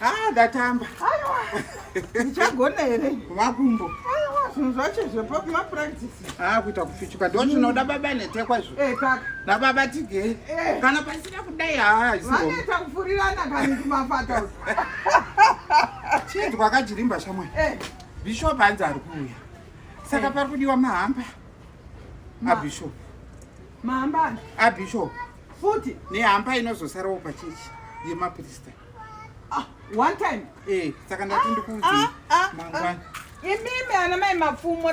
Ah, ndatamba aiwa ndichagona here makumbo zvinhu zvacho zvepamapuractisi haa kuita kufichuka ndo zvinoda baba netekwa zvo eh, nababa tigei eh. kana pasina kudai haaivaneta kufurirana kani kumafata chinzwa kajirimba shamwai eh. bishop hanzi ari kuuya saka pari kudiwa mahamba abishop mahambana abishop futi nehamba inozosarawo pachechi yemaprista ah, one time eh saka ndati ah, ndikuudzi ah, ah, mangwana ah. imimi ana mai mapfumo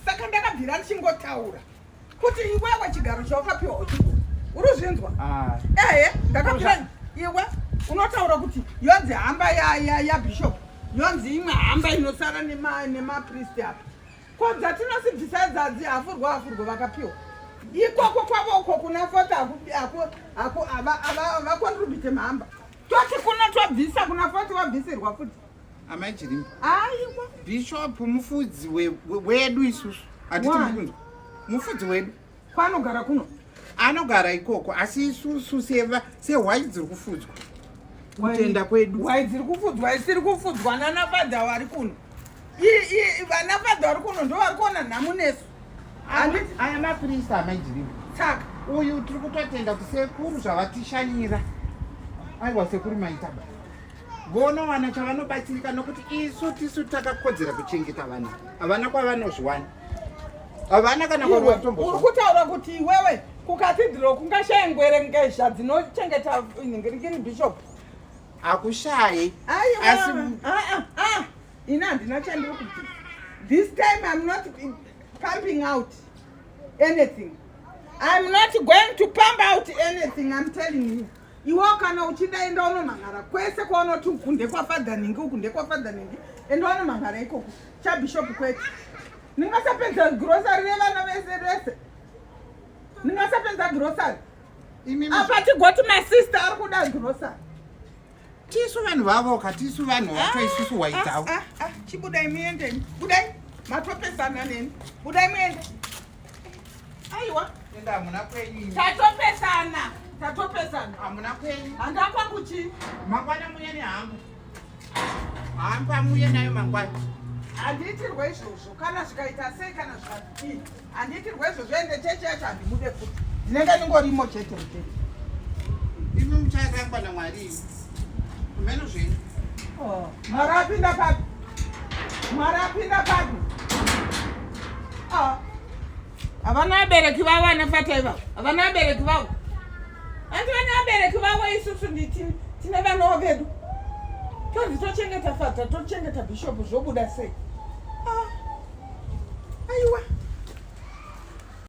saka ndakabvira ndichingotaura kuti iwewe chigaro chawakapiwa uchiko uri uzvinzwa ah. ehe ndakabvira iwe unotaura kuti yonzi hamba yabishop yonzi imwe hamba inosara nemapristi apa ko dzatinoti bvisai dzadzi hafurwo hafurwo vakapiwa ikoko kwavo uko kuna fota havakontribute mhamba toti kuno tobvisa kuna foti wabvisirwa futi amai chirimba aiwa bishop mufudzi wedu isusu hatiti mukunzwa mufudzi wedu Kwanogara kuno. Anogara ikoko asi isusu seva sehwai dziri kufudzwa. Kutenda kwedu. Hwai dziri kufudzwa isiri kufudzwa nana fadha wari kuno. Ii vana fadha wari kuno ndo vari kuona nhamu nesu. Ani aya mapirisa amajirimu. Saka uyu tiri kutotenda kuti sekuru zvavatishanyira. Aiwa sekuru maita baba. vonowana chavanobatsirika nokuti isu tisu takakodzera kuchengeta vana havana kwavanozviwana havana kana uri kutaura kuti iwewe kukatidhiro kungashaya ngwere ngezha dzinochengeta nhingirikiri bishop hakushayi asi ini handina chandiri kuti this time im not pumping out anything i'm not going to pump out anything i'm telling you Iwo kana uchida enda unomhan'ara kwese kwaunoti uku ndekwafadha nhingi uku ndekwafadha nhingi enda unomhan'ara ikoko chabhishopu kwete ndingasapedza grosari revana vese vese ndingasapedza grosari apa tigoti masista ari kuda grosari tisu vanhu vavo ka tisu vanhu vacho ah, isusu waidzawo ah, ah, chibudai muendeni budai matopesana neni budai muende Aiwa. Enda hamuna kwenyu. Tatopesana. Tatopesana. Hamuna kwenyu. Handa kwangu chi? Mangwana muye ni hangu. Hamba muye nayo mangwana. Handiitirwe izvozvo kana zvikaita sei kana zvakadii. Handiitirwe izvozvo ende chechi yacho handimude futi. Ndinenge ndingorimo chete chete. Imi muchazangwa naMwari. Meno zvenyu. Oh, mara apinda papi? Mara apinda papi? Ah. Havana vabereki vavo anafata ivavo. Havana vabereki vavo. Anti vana vabereki vavo isusu nditi tine vanawo vedu. Tonzi tochengeta fata, tochengeta bishop zvobuda sei? Ah. Aiwa.